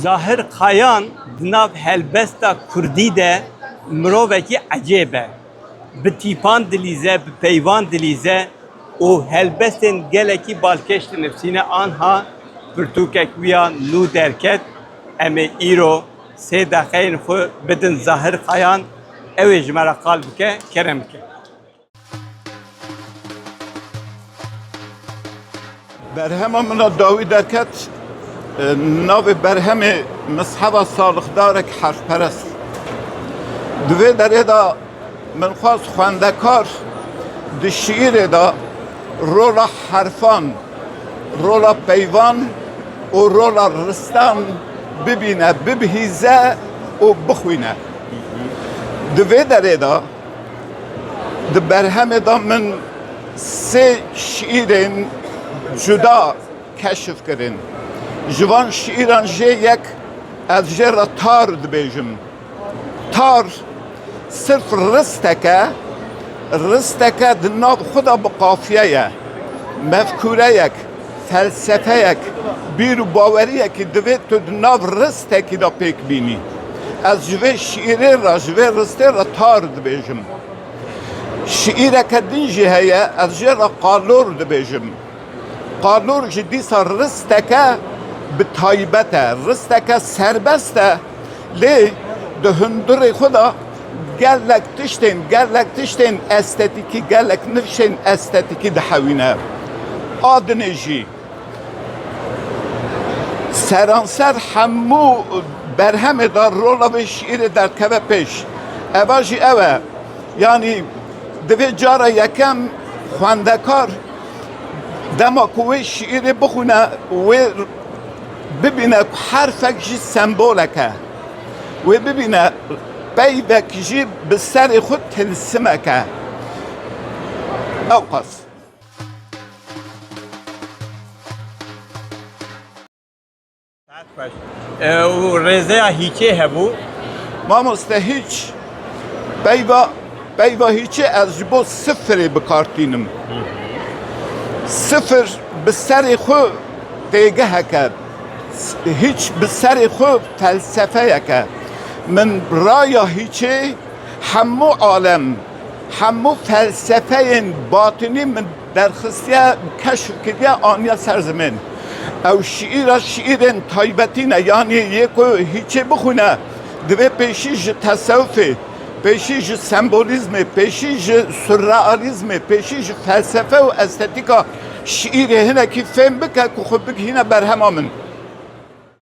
Zahir Kayan di nav helbesta Kurdî de mirovekî ecêb e. Bi tîpan dilîze, bi peyvan dilîze û helbestên gelekî balkêş dinivîsîne anha pirtûkek wî ya nû derket em ê îro sê deqeyên xwe bidin Zahir Kayan ew ê ji me re qal bike, kerem bike. Berhema min a dawî derket navê berhemê mizheba salixdarek herfperest. Di vê derê de min xwaz xwendekar di şiîrê de rola herfan, rola peyvan û rola ristan bibîne, bibihîze û bixwîne. Di vê derê de Di berhemê de min sê şîîrên cuda keşf kirin. Ji van şîîran jê yek ez jê re tar dibêjim. Tar sirf risteke, risteke di nav xwe de bi qafiyeye, mefkûreyek. Felsefeyek, bîr û baweriyekî divê tu di nav ristekî de pêk bînî. Ez ji vê şîîrê re, ji vê ristê re tar dibêjim. Şîîreke din jî heye, ez jê re qalor dibêjim. Qalor jî dîsa risteke bi taybet e, risteke serbest e, lê di hundirê xwe de, Gelek tiştên, gelek tiştên estetîkî, gelek nifşên estetîkî dihewîne. A dinê jî seranser hemû berhemê de rola vê şîîrê derdikeve pêş. Eva jî ew e. Yanî divê cara yekem xwendekar dema ku wê şîîrê bixwîne wê bibîne ku herfek jî sembolek e. wê bibîne peyvek jî bi serê xwe tilsimek e. Ewqas. Ew rêzeya hîçê hebû. Mamoste hîç. Peyva peyva hîçê ez ji bo sifirê bikartînim. Sifir bi serê xwe têgiheke. Hîç bi serê xwe felsefeyek e. Min raya hîçê hemû alem, hemû felsefeyên batinî min derxistiye, keşf kiriye, aniye ser zimên. Ew şîîra şîîrên taybetî ne, yanî yê ku hîçê bixwîne divê pêşî ji tesewufê, pêşî ji sembolîzmê, pêşî ji surrealîzmê, pêşî ji felsefe û estetîka. Şiîrê hinekî fêm bike ku xwe bigihîne berhema min.